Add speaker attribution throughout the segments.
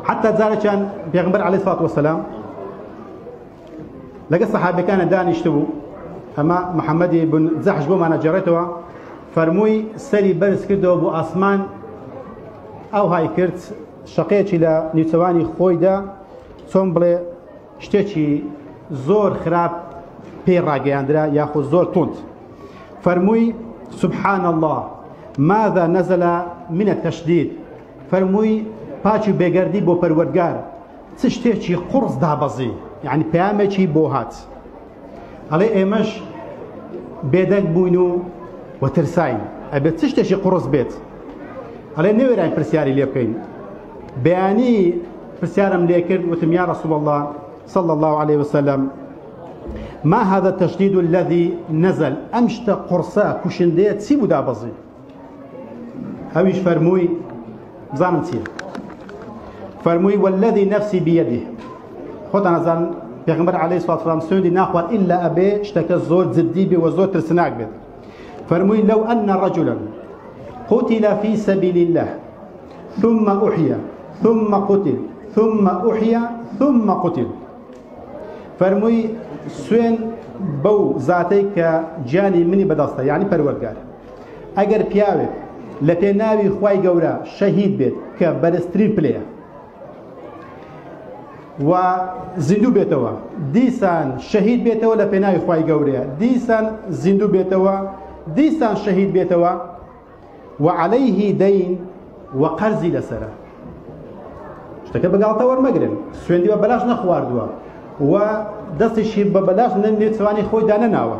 Speaker 1: حتى جارێکیان پێغمبەر عەلەیهی سڵات وەسەلام لەگەڵ سەحابەکانە دانیشتبوو ئەمە محەممەدی بن جەحش بۆمانە جێڕێتەوە فەرمووی سەری بەرز کردەوە بۆ ئاسمان ئەو های کرد شەقەیەکی لە نیوچەوانی خۆیدا چۆن بڵێ شتێکی زۆر خراپ پێی ڕاگەیاندرا یاخود زۆر تونند فەرمووی سبحان الله ماذا نزل من التشديد فەرمووی، پاچ و بێگەردی بۆ پەروەردگار، چ شتێکی قوڕس دابەزی، یەعنی پەیامێکی بۆ هات. ئەڵێ ئێمەش بێدەنگ بووین و و ترساین، ئەبێت چ شتێکی قوڕس بێت. ئەڵێ نەوێراین پرسیاری لێ بکەین. بەیانی پرسیارم لێ کرد، وتم یا رسول الله صلی الله علیه وسلم ما هذا التشدید الذي نزل ئەم شتە قوڕسە کوشندەیە چی بوو دابەزی؟ ئەویش فەرمووی بزانم چیە فەرمووی والذی نفسی بیده خۆتان ئەزان پێغمبەر عەلەیهی سڵات وسلام سوێندی ناخوات ئیلا ئەبێ شتەکە زۆر جددی بێ و زۆر ترسناک بێت فەرمووی لەو ئەن رەجلا قتل في سبيل الله ثم أحيا ثم قتل ثم أحيا ثم قتل فەرمووی سوێن بەو زاتەی کە گیانی منی بەدەستە یعنی پەروەگار ئەگەر پیاوێک لە پێ ناوی خوای گەورە شەهید بێت کە بەرزترین پلەیە و زیندوو بێتەوە دیسان شەهید بێتەوە لە پێناوی خی گەورەیە دیسان زیندوو بێتەوە دیسان شەهید بێتەوە و عليهەیهی دەین و قەرزی لەسرە شتەکە بەگاڵتە وەرمەگرن سوێندی بە بەلاش نەخواردووە و دەستیشی بە بەلاش نەنێتوانی خۆی دانەناوە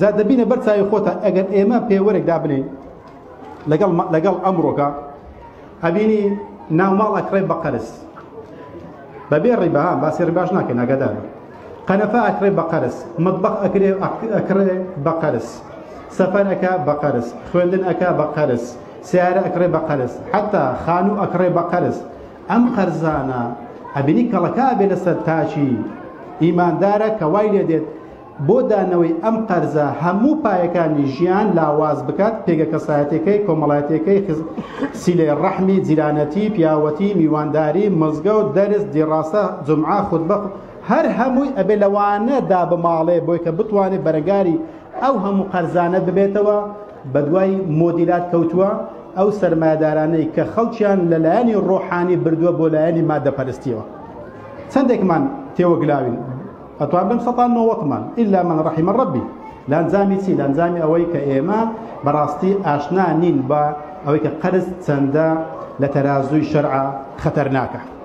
Speaker 1: جا دەبینە بەر چاوی خۆتان ئەگەر ئێمە پێوەرێک دابنێین لەگەڵ لەگەڵ ئەمڕۆکە ئەبینی ناوماڵ ئەکڕێ بە قەرز بەبێ ڕیبا باسی ڕیباش ناکەین ناگەدار قەنەفە ئەکرێ بە قەرز مطبخ ئەکرێ ئەکرێ بە قەرز سەفەر ئەکا بە قەرز خوێندن ئەکا بە قەرز سیارە ئەکرێ بە قەرز حتا خانوو ئەکڕێ بە قەرز ئەم قەرزانە ئەبینی کەڵەکە بێ لەسەر تاچی ئیماندارە کە وای لێ دێت بۆ دانەوەی ئەم قەرزە هەموو پایەکانی ژیان لاواز بکات، پێگە کەسایەتیەکەی، کۆمەڵایەتیەکەی، خز، سیلەی ڕەحمی، جیرانەتی، پیاوەتی، میوانداری، مزگەوت، دەرس، دیڕاسە، جومعە، خوتبە، هەر هەمووی ئەبێ لەوانە دابماڵێ بۆی کە بتوانێ بەرەگاری ئەو هەموو قەرزانە ببێتەوە، بەدوای مۆدیلات کەوتووە، ئەو سەرمایەدارانەی کە خەڵکیان لە لایەنی ڕۆحانی بردووە بۆ لایەنی مادەپەرستیەوە چەندێکمان تێوەگلاوین؟ ئەتوان بن سەتان نۆوەتمان ئیلا من رحم ربی لانجامی چی لانجامی ئەوەی کە ئێمە بەڕاستی ئاشنا نین بە ئەوەی کە قەرز چەندە لە تەرازووی شەرع خەتەرناکە